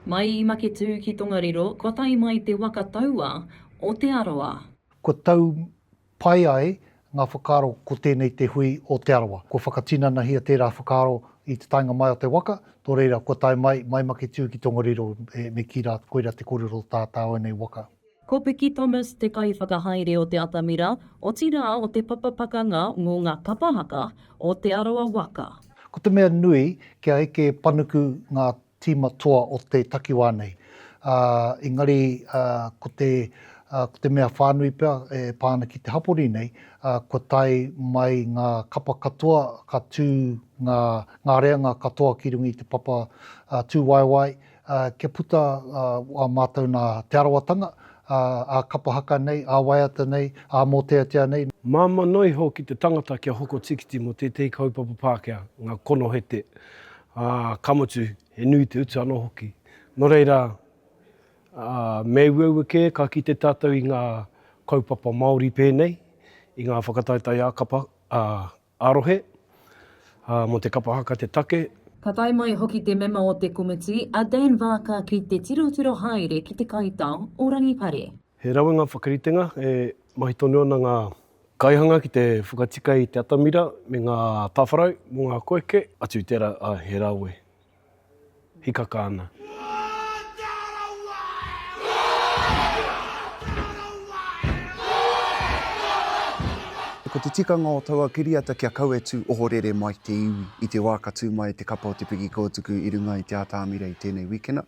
Mai i Maketū ki Tongariro, kua tae mai te waka taua o Te Arawa. Kua tau pai ai ngā whakaaro ko tēnei te hui o Te Arawa. Kua whakatinanahia tērā whakaaro i te taenga mai o te waka, tō reira kua tae mai, mai Maketū ki Tongariro me kī rā koira te kōrero o tātāu nei waka. Ko Piki Thomas te kaiwhakahaere o te atamira, otirā o te papa pakanga mō ngā kapa haka o Te Arawa waka. Ko te mea nui, kia eke panuku ngā tīma toa o te takiwā nei, ā, engari ko te, ko te mea whānui pea e pā ana ki te hapori nei, kua tae mai ngā kapa katoa, ka tū ngā, ngā reanga katoa ki runga i te papa tūwaewae, ā, kia puta ā mātou nā Te Arawatanga, ā, ā kapa haka nei, ā waiata nei, ā mōteatea nei. Māmā noa iho ki te tangata kia hoko tīkiti mō tētehi kaupapa Pākehā, ngā konohete, ā, ka mutu, he nui te utu anō hoki. Nō reira, ā, me ueue kē ka kite tātou i ngā kaupapa Māori pēnei, i ngā whakataetae ā kapa, ā, Ā-rohe, ā, mō te kapa haka te take. Ka tae mai hoki te mema o te komiti, a Dan Vaaka ki te tirotiro haere ki te kaitao o Rangipare. He rawe ngā whakaritenga e mahi tonu ana ngā. Kaihanga ki te whakatika i te atamira me ngā tāwharau mō ngā koeke. Atu i tērā, ā, he rawe. hikaka ana. Ko te tikanga o taua kiriata kia kauetu ohorere mai te iwi i te wā ka tū mai te kapa o te piki kōtuku i runga i Te Ātaamira i tēnei wikena,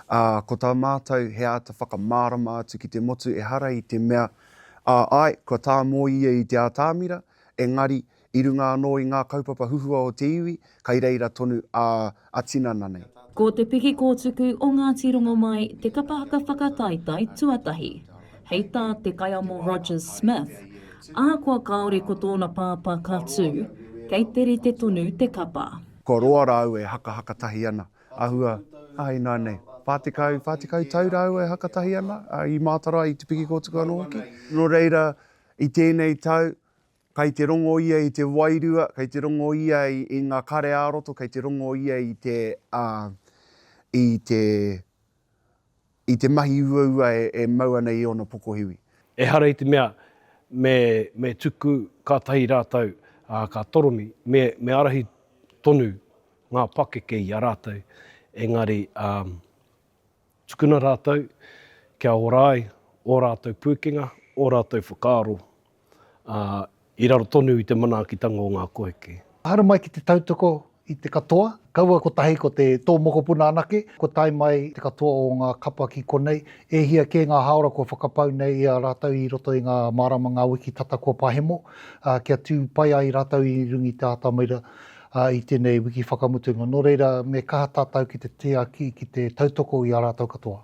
ā, ko tā mātou he āta whakamārama atu ki te motu ehara i te mea, ā, āe, kua tāmō ia i Te Ātaamira, engari, I runga anō i ngā kaupapa huhua o te iwi, kai reira tonu a a tinana nei. Ko Te Piki Kōtuku o Ngāti Rongomai te kapa haka whakataetae tuatahi. Hei tā Te Kaiamo Rogers Smith, ahakoa kāore ko tōna pāpā ka tū, kei te rite tonu te kapa. Kua roa rāua e hakahaka tahi ana, āhua, ā, ināianei, whā tekau, whā tekau tau rāua e haka tahi ana, ā, i mātaro ai i Te Piki Kōtuku anō hoki. Nō reira, i tēnei tau, Kei te rongo ia i te wairua, kei te rongo ia i ngā kare ā-roto, kei te rongo ia i te, ā, i te, i te mahi uaua e, e mau ana i ōna pokohiwi. Ehara i te mea me, me tuku kātahi rātou, ā, ka toromi, me, me ārahi tonu ngā pakeke i a rātou, engari, ā, Tukuna rātou kia ora ai ō rātou pūkenga, ō rātou whakaaro, ā, i raro tonu i te manaakitanga o ngā kohike. Haere mai ki te tautoko i te katoa, kaua kotahi ko te tō mokopuna anake, kua tae mai te katoa o ngā kapa ki konei, e hia kē ngā hāora kua whakapau nei i a rātou i roto i ngā māramanga wiki tata kua pahemo, ā, kia tū pai ai rātou i runga i te atamira. ā, i tēnei wiki whakamutunga, nō reira, me kaha tātou ki te tiaki, ki te tautoko i a rātou katoa.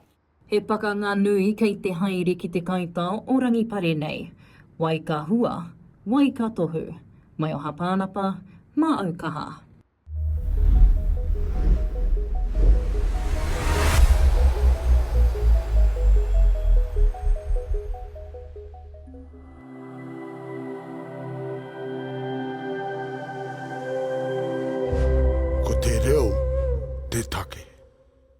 He pakanga nui kei te haere ki te kaitā o Rangipare nei. Wai ka hua? Wai ka tohu? Mai o Hapānapa, mā Aukaha. Ko te reo te take.